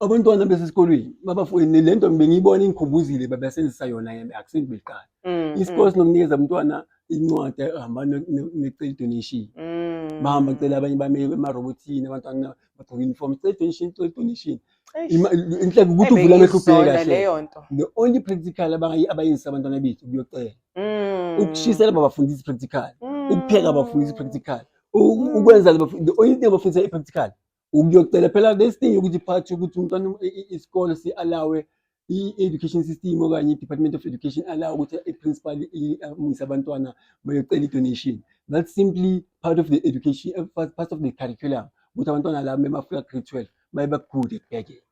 abantwana besesikolweni babafuni le nto bengiyibona ingikhumbuzile babesenzisa yona yena akusini beqala mm, mm. isikole sinomnikeza umntwana incwadi ehamba necela donation mm. bahamba cela abanye bame emarobotini abantwana bagqoka uniform cela donation cela donation inhleke ukuthi uvula amehlo ubheke kahle the only practical abayenzisa abantwana bethu kuyocela ukushisela babafundisa i-practical ukupheka babafundisa i-practical ukwenza the only thing abafundisa i-practical ukuyocela phela besidinga ukuthi phathi ukuthi umntwana isikole si-alawe i-education system okanye i-department of education alawe ukuthi i-principal amuyise abantwana bayocela i-donation that's simply part of the education part of the curriculum ukuthi abantwana labo bemafika grade twelve baye bakude kubhekele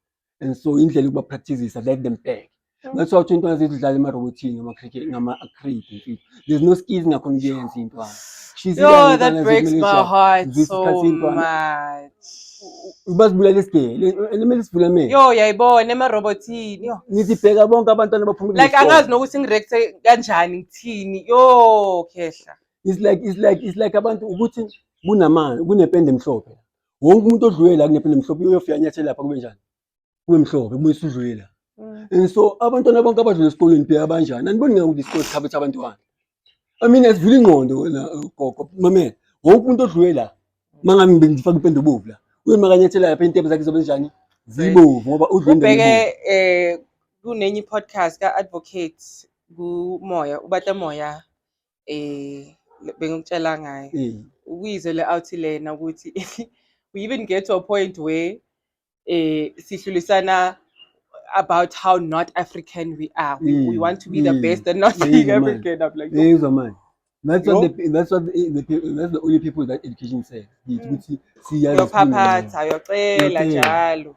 and so indlela yokuba practicisa let them beg that's why into azithi udlala emarobotini ngama-cricket ngama-acrid there's no skills ngakhona ukuyenza intwana Yo, that breaks my heart so much. Ubazibulala isigele, elimele isivula mina. Yo, yayibona emarobotini. Yo. Ngithi bheka bonke abantwana baphumile. Like angazi nokuthi ngireact kanjani ngithini. Yo, khehla. It's like it's like it's like abantu ukuthi kunamanzi, kunepende emhlophe. wonke umuntu odlule la kunephi nemhlophe uyofika anyathele lapha kube njani kube mhlophe kube usudlule la Mm. and so abantwana bonke abadlule esikoleni phela banjani aniboni ngakuthi isikole sikhabetha abantwana i mean asivula ingqondo wena uh, gogo mamela wonke umuntu odlule la mangami bengifaka impende obovu la uyomakanyathela lapha intebe zakhe zobe njani zibovu ngoba udlule endaweni ebovu. ubheke eh kunenye i-podcast ka-advocate kumoya ubata moya eh bengikutshela ngayo Mm. ukuyizwe le out lena ukuthi we even get to a point where eh sihlulisana about how not African we are we, we Mm, want to be the mm. best and not Yeah, being man. African I'm like Hey, so man. That's Yo. what the that's what the, the people that's the only people that education says. It's Mm. ukuthi siyazi sifuna. uyophaphatha uyocela Uyocela. njalo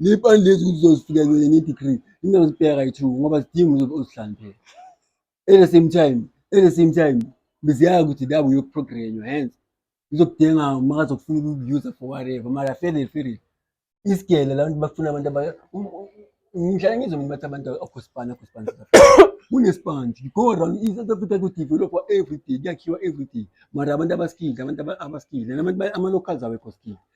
Le pani lezi uzozifika kwenye ne-degree ingazibheka kayi-two ngoba zidinga uzobe uzihlaniphela. At the same time, at the same time beziyazi ukuthi la uyokuprogrenywa hence izokudinga uma kazokufuna ukukuuser for whatever mara fele fele isigele la bantu bafuna abantu aba ngihlala ngizwe mina bathi abantu akhosipani akhosipani kunesipanje go around i-south africa kudevelopha everyday kuyakhiwa everyday mara abantu abaskile abantu abaskile nabantu ama-locals awekho skile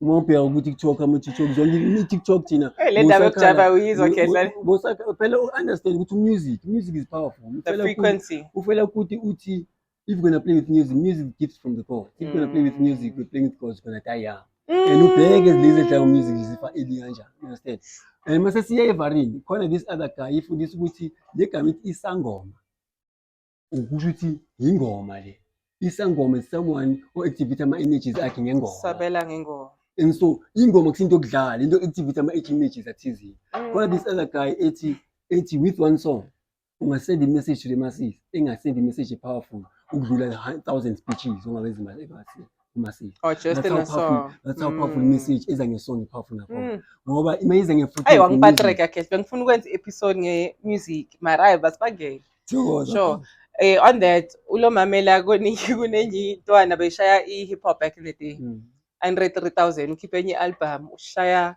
uma ubheka ku-tiktok ama-tiktok zonke i-tiktok thina Eh, le ndaba yokujava uyizwa khehla Bosaka- phela u-understand ukuthi umusic music is powerful the Uphela ku- frequency ufela ukuthi uthi if you're gonna play with music music gifts from the god if you're gonna play with Mm. music you're playing with god you're gonna die young and Mm. ubheke lezi edlala music zifa eli kanjani you understand and mase siya evarini khona this other guy ifundisa ukuthi le gama ithi isangoma ukusho ukuthi yingoma le isangoma is someone o-activate ama-images akhe ngengoma sabela ngengoma and so ingoma kusinto okudlala into activate ama-images athizile mm. kodwa this other guy ethi ethi with one song ungasend imessage to the masses engasend imessage epowerful ukudlula thousand speeches ongabe ezimasini kumasiya oh just in a song that's how powerful mm. message eza nge song powerful nakho mm. ngoba imayize nge futhi ayi wangipatreka cash bengifuna ukwenza episode nge music mara ayi basibangele sure eh on that ulo mamela koningi kunenye intwana beshaya i hip hop back in the day mm. 103000 ukhiphe enye album ushaya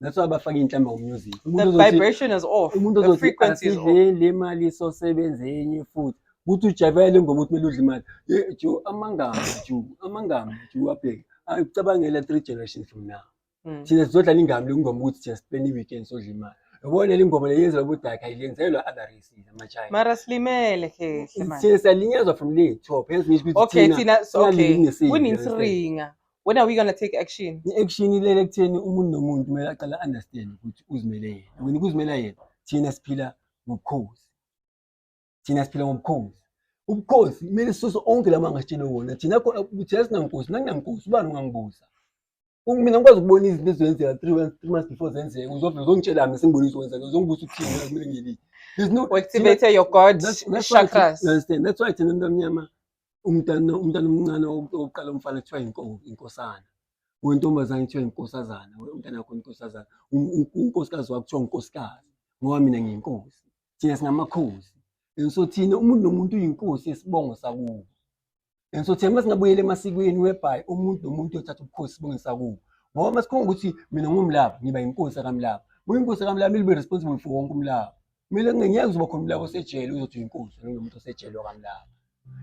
that's why bafaka inhlamba ngomusic umuntu ozothi le mali isosebenze enye futhi ukuthi ujabela le ngoma ukuthi kumele udle imali ju amangama ju amangama ju abheke ucabangela three generations from now hmm. thina sizodlala ingami lokungoma ukuthi just spend i-weekend sodla imali yabona le ngoma leyenzelwa ubudaka ayilenzelwa other races amachina mara silimele khehla manje siyalinyazwa from le top hence ngisho ukuthi thina okay kunisiringa When are we gonna take action? I-action ilele ekutheni umuntu nomuntu kumele aqale understand ukuthi uzimele yena. Wena ukuzimela yena, thina siphila ngobukhosi. Thina siphila ngobukhosi. Ubukhosi kumele sisuse onke lama ngasitshele wona. Thina khona ukuthi asinankosi, nanginankosi ubani ungangibuza. Mina ngikwazi ukubona izinto ezenzeka 3 months 3 months before zenzeka. Uzovela uzongitshela mina sengibonisa ukwenzeka. Uzongibuza ukuthini mina kumele ngilini. There's no activate your God that's, that's chakras. Why, understand? That's why thina mntamnyama umntana umntana omncane oqala umfana kuthiwa inkosana wentombazane kuthiwa inkosazana umntana wakho inkosazana unkosikazi wakho kuthiwa unkosikazi ngoba mina ngiyinkosi thina singamakhosi and so thina umuntu nomuntu uyinkosi yesibongo sakubo and so thina uma singabuyela emasikweni webhayi umuntu nomuntu uyothatha ubukhosi sibonge sakubo ngoba uma sikhonga ukuthi mina ngumlaba ngiba yinkosi akamlaba buyinkosi akamlaba ilibe responsible for wonke umlaba mina ngeke uzoba khona umlaba osejele uzothi uyinkunzi noma umuntu osejele wakamlaba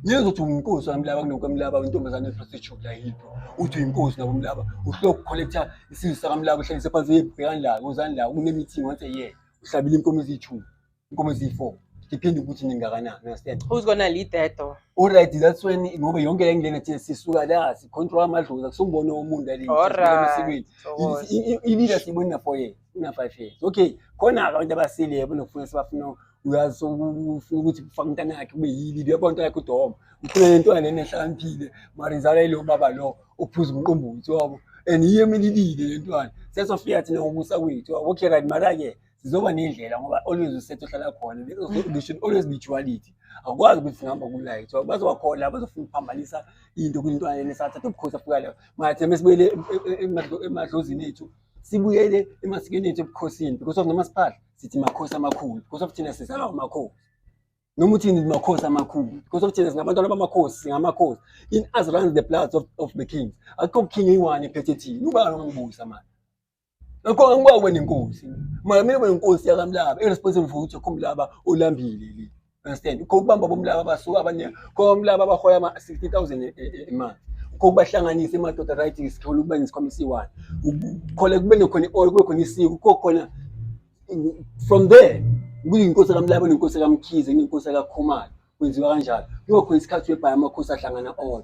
ngeke uzothi uyinkunzi wakamlaba kunokwamlaba intombazane prostitute la yipho uthi uyinkunzi nabo mlaba uhloko collector isizwe sakamlaba uhlalise phansi yebhekani la uzani la kunemeeting once a year uhlabile inkomo eziyithumi inkomo eziyi-four depende ukuthi ningakanani understand who's gonna lead that though all right that's when ngoba yonke le ngene thina sisuka la si control amadlozi akusongibona umuntu alini All right. esikweni Thokoza. ilida siyibona for yena una five years okay khona abantu abasile yabo nokufuna sebafuna uyazi ufuna ukuthi kufaka umntana yakhe kube yili uyabona into yakhe udoma ufuna le ntwana nene ehlakaniphile mara izala yilo baba lo ophuza umqombothi wabo and yiyo emelilile le ntwana sesofika thina ngokusa kwethu wabo okay right mara-ke zizoba nendlela ngoba always usethu ohlala khona they should always be duality akwazi ukuthi singihamba kulight so bazowakhona bazofuna ukuphambanisa into kwintwana enesathatha ubukhosi afika leyo mathembe sibuyele emadlozini ethu sibuyele emasikweni ethu ebukhosini because of nomasiphala sithi makhosi amakhulu because of thina sizalwa amakhosi noma uthini makhosi amakhulu because of thina singabantwana bamakhosi singamakhosi in as runs the blood of, of the kings akukho kukhing eyi-one ephethe thini ubani ongibusa manje akho angibawe nenkosi manje mina benenkosi yakamlaba irresponsible for ukuthi akhomlaba olambile leli understand ukho ukubamba bomlaba abasuka abanye komlaba abahoya ama 60000 imali ukho kubahlanganisa emadoda right isikole ukuba nesikhwama esiyi-one khole kube nekhona i-oil kube khona isiko ukho khona from there kuyinkosi kamlaba nenkosi kamkhize nenkosi kakhumalo kwenziwa kanjalo kuyokhona isikhathi webhaya amakhosi ahlangana odwa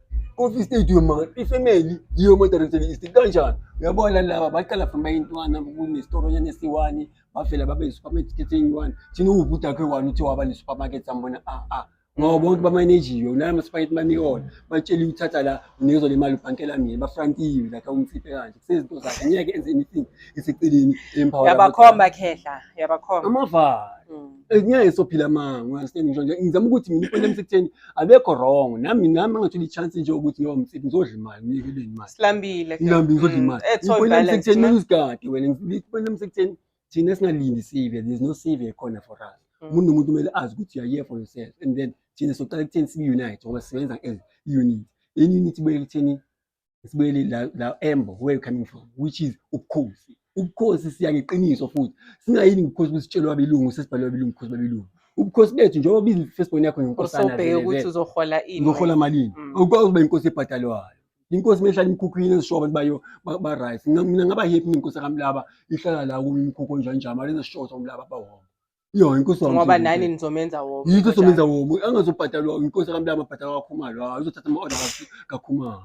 Coffee State uyo manga ifamily yiyo mo direction is kanjani uyabona laba baqala from bayintwana kunesitoro nyana esiwani bavela babe i-supermarket eyi-one thina uwubhuti akhe one uthi waba ne-supermarket sambona ah ah ngoba bonke bamanejiwe naye ama-supermarket maniwona batshele uthatha la unikeza le mali ubhankela mina bafrankiwe like awumfiphe kanje kusezinto zakhe ngeke enze anything iseceleni emphawula yabakhomba khehla yabakhomba amavalo Mm. ngeke sophila manga understand ngisho nje ngizama ukuthi mina iphone lami sekutheni abekho wrong nami nami angathola i-chance nje ukuthi ngiyoba mfethu ngizodla imali ngiyikeleni imali silambile ngihambe ngizodla Mm, imali ethoy iphone lami balance, sekutheni ma. kumele usigade wena iphone lami sekutheni thina singalindi sive there's no sive ekhona for us Mm. umuntu nomuntu kumele azi ukuthi you are here for yourself and then thina soqala ekutheni sibe-unite ngoba sisebenza as unit in unit ibuye ekutheni sibuyele la la embo where you coming from which is ubukhosi ubukhosi siya ngeqiniso futhi singayini ubukhosi besitshelwa abelungu sesibhalwa abelungu ubukhosi babelungu ubukhosi bethu njengoba bizi Facebook yakho ngenkosana usobheke ukuthi uzohola ini uzohola malini mm. ukwazi ukuba inkosi ebhadalwayo inkosi mehlala imkhukhwini ezishoba ukuthi bayo ba right mina ngaba happy inkosi kamlaba ihlala la kumkhukho njani njani mali ezishoba umlaba bawona Yo inkosi wami. Ngoba nani nizomenza womo. Yikho somenza womo. Angazobhadalwa inkosi kaMlaba abhadalwa kaKhumalo. Hayi uzothatha ama order kaKhumalo.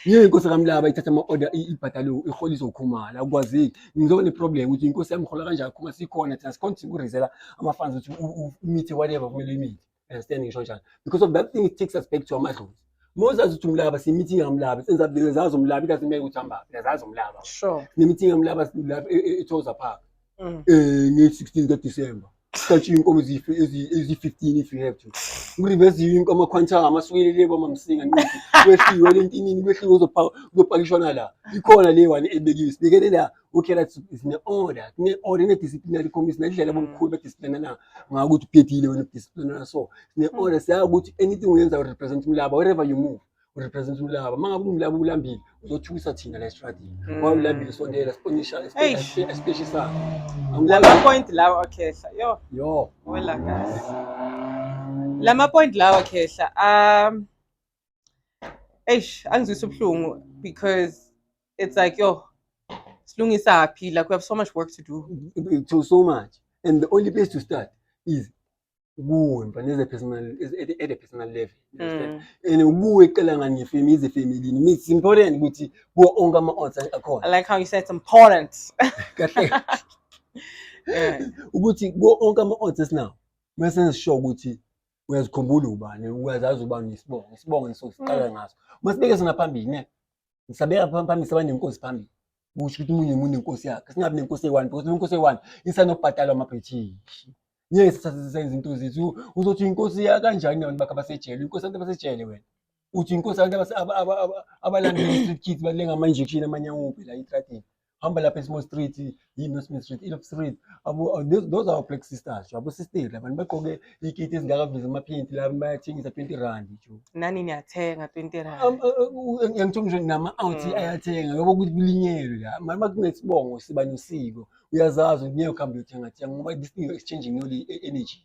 Yey inkosi kaMlaba ithatha ama order ibhadalwe iholiswa uKhumalo. Akwazi ngizoba ne problem ukuthi inkosi yami hola kanjani Khumalo sikhona thina sikhona ukurizela ama fans ukuthi umithe whatever kumele imithi. understand ngisho njalo because of that thing it takes us back to amadlozi mozazi ukuthi umlaba simeeting yamlaba senza bile zazi umlaba ikazi meke ukuthi hamba bile zazi umlaba sure nemeeting yamlaba lapha e, e, ethoza park mm. eh nge 16 ka December Sathi inkomo ezife ezi 15 if you have to. Ngirivezi inkomo quantum amasukelele kwa mamsinga nqidi. Kwehliwe lentinini kwehliwe uzopha uzopakishwa la. Ikhona le one ebekiwe. Sibekele la okay that is ne order ne order ne disciplinary committee ne dlela bomkhulu be discipline na ngaku ukuthi phethile wena discipline na so ne mm. order siya ukuthi anything uyenza u represent umlaba wherever you move u represent umlaba mangabe umlaba ulambile uzothukisa thina la strategy mm. wa ulambile sondela sponisha especially sa ngilaba point lawa okhehla yo yo wela guys lama point lawa khehla um eish angizwisa ubuhlungu because it's like yo silungisa phi like we have so much work to do to so much and the only place to start is kuwe mfana as a personal as at, at a personal level mm. and kuwe cela ngani family is a family it's important ukuthi kuwo onke ama odds akhona i like how you said it's important kahle ukuthi kuwo onke ama odds esinawo mase sisho ukuthi uyazikhumbula ubani uyazazi ubani isibongo isibongo ngisosiqala mm. ngaso masibeke sona phambili ne ngisabeka phambili saba nenkosi phambili kusho ukuthi umunye umuntu nenkosi yakhe singabi nenkosi eyi-one because inkosi eyi-one isanokubhatalwa amabhrithishi ngeke sisasizisa izinto zethu uzothi inkosi yakanjani abantu bakhe abasejele inkosi abantu abasejele wena uthi inkosi abantu abalanda i-street kids balenga ama-injection amanye awuphi la etradini hamba lapha eSmall Street, yini Smith Street, Ilop Street. Abo uh, those, those are black sisters. Abo sisters abantu bagqoke ikiti ezingakavezi amaphinti la bayathengisa 20 rand nje. Nani niyathenga 20 rand. Um, uh, uh, Ngithola nje nama out mm. ayathenga ngoba ukuthi kulinyelwe la. Mama kunesibongo siba nosiko. Uyazazi ukuthi ngeke uhambe uyothenga thenga ngoba this thing is changing only e-, energy.